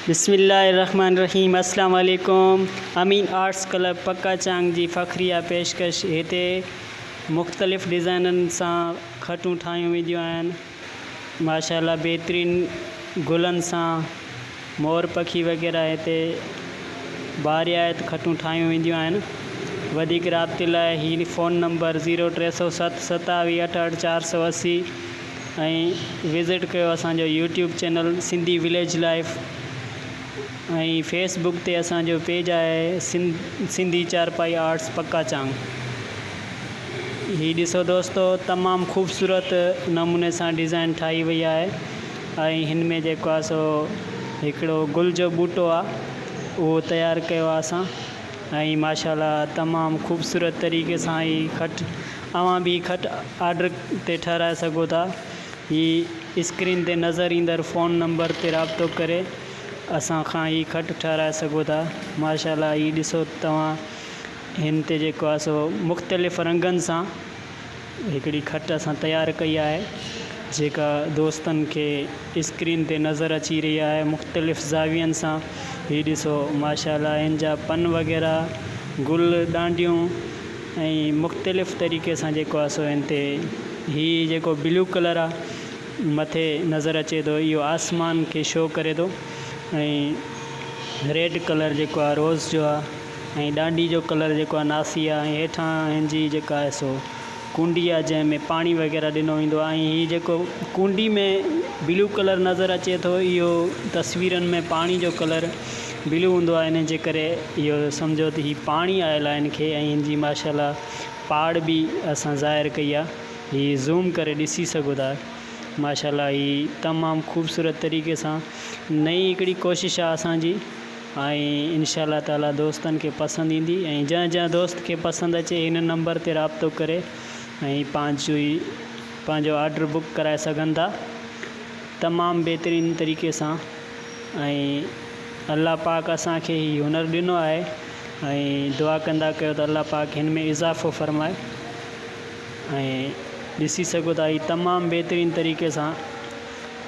بسم الله الرحمن الرحيم اسلام عليڪم امين آرٽس ڪلب پڪا چانگ جي فخريه پيشڪش هتي مختلف ڊزائنن سان کٽون ٺاهيون وينديون آهن ماشاءالله بهترين گلن سان مور پکي وغيره هتي باريات کٽون ٺاهيون وينديون آهن وڌيڪ رابطي لاء هي فون نمبر زيرو ٽي سؤ ست ستاويهه اٺهٺ چار سؤ اسي ۽ وزٽ ڪيو اسان جو YouTube channel Sindhi village life ۽ Facebook تي اسان جو پيج آهي سنڌي چارپائي آرٽس پڪا چانگ هي ڏسو دوستو تمام خوبصورت نموني سان ڊيزائن ٺاهي وئي آهي ۽ هن ۾ جيڪو آهي سو هڪڙو گل جو ٻوٽو آهي اهو تيار ڪيو آهي اسان ۽ ماشاء الله تمام خوبصورت طريقي سان هي کٽ اوهان به هي کٽ آرڊر تي ٺهرائي سگهو ٿا. هي اسڪرين تي نظر ايندڙ فون نمبر تي رابطو ڪري اسان کان هي کٽ ٺهرائي سگهو ٿا. ماشاءالله هي ڏسو توهان هن تي جيڪو آهي سو مختلف رنگن سان هڪڙي کٽ اسان تيار ڪئي آهي جيڪا دوستن کي اسڪرين تي نظر اچي رهي آهي مختلف زاوين سان هي ڏسو ماشاءالله هن جا پن وغيره گل ڏانڊيون ۽ مختلف طريقي سان جيڪو آ سو هن تي هي جيڪو بلو ڪلر آ مٿي نظر اچي ٿو اهو آسمان کي شو ڪري ٿو ۽ ريڊ ڪلر جيڪو آ روز جو آ ۽ ڏانڊي جو ڪلر جيڪو آ ناسي آ ۽ هيٺان هن جي جيڪا آهي سو ڪونڊي آ جنهن ۾ پاڻي وغيره ڏنو ويندو آ ۽ هي جيڪو ڪونڊي ۾ بلو ڪلر نظر اچي ٿو اهو تصويرن ۾ پاڻي جو ڪلر بلو هوندو آهي ان جي ڪري اهو سمجهو ته هي پاڻي آيل آهي ان کي ۽ ان جي ماشاءالله پاڙ به اسان ظاهر ڪئي آهي هي زوم ڪري ڏسي سگهو ٿا ماشاءالله هي تمام خوبصورت طريقي سان نئي هڪڙي ڪوشش آهي اسان جي ۽ انشاءالله تعالي دوستن کي پسند ايندي ۽ جنهن جنهن دوست کي پسند اچي هن نمبر تي رابطو ڪري ۽ پنهنجو ئي پنهنجو آرڊر بڪ ڪرائي سگهن ٿا تمام بهترين طريقي سان ۽ الله پاڪ اسان کي هي هنر ڏنو آهي ۽ دعا ڪندا ڪيو ته الله پاڪ هن ۾ اضافو فرمائي ۽ ڏسي سگهو ٿا هي تمام بهترين طريقي سان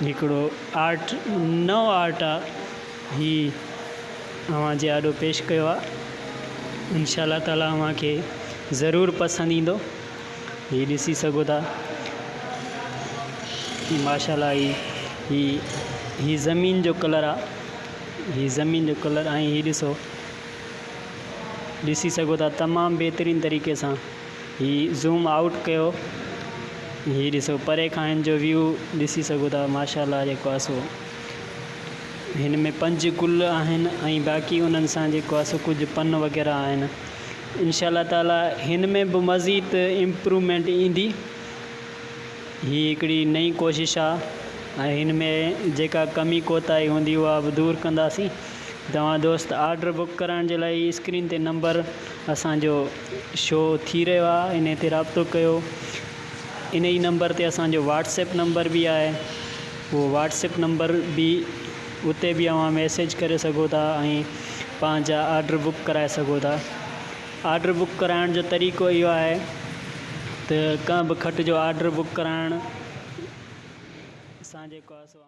هڪڙو آرٽ نئون آرٽ آهي هي اوهان جي آڏو پيش ڪيو آهي انشاء الله تعاليٰ اوهان کي ضرور پسند ايندو هي ڏسي سگهو ٿا هي ماشاءالله هي هي هي زمين جو ڪلر آ هي زمين جو ڪلر ۽ هي ڏسو ڏسي سگهو ٿا تمام بهترين طريقي سان هي زوم آئوٽ ڪيو هي ڏسو پري کان هن جو ويو ڏسي سگهو ٿا ماشاءالله جيڪو آ سو هن ۾ پنج گل آهن ۽ باقي انهن سان جيڪو آ سو ڪجهه پن وغيره آهن انشاء الله تعالي هن ۾ به مزيد امپرومينٽ ايندي هي هڪڙي نئين ڪوشش آ ۽ هن ۾ جيڪا ڪمي ڪوتاهي هوندي اها به دور ڪنداسين توهان دوست آرڊر بڪ ڪرائڻ جي لاء اسڪرين تي نمبر اسان جو شو ٿي رهيو آ انهي تي رابطو ڪيو انهي نمبر تي اسان جو واٽس اپ نمبر به آهي اهو واٽس اپ نمبر به اتي به اوهان ميسيج ڪري سگهو ٿا ۽ پنهنجا آرڊر بڪ ڪرائي سگهو ٿا آرڊر بڪ ڪرائڻ جو طريقو اهو آهي ته ڪنهن به کٽ جو آرڊر بڪ ڪرائڻ سان جيڪو آهي سو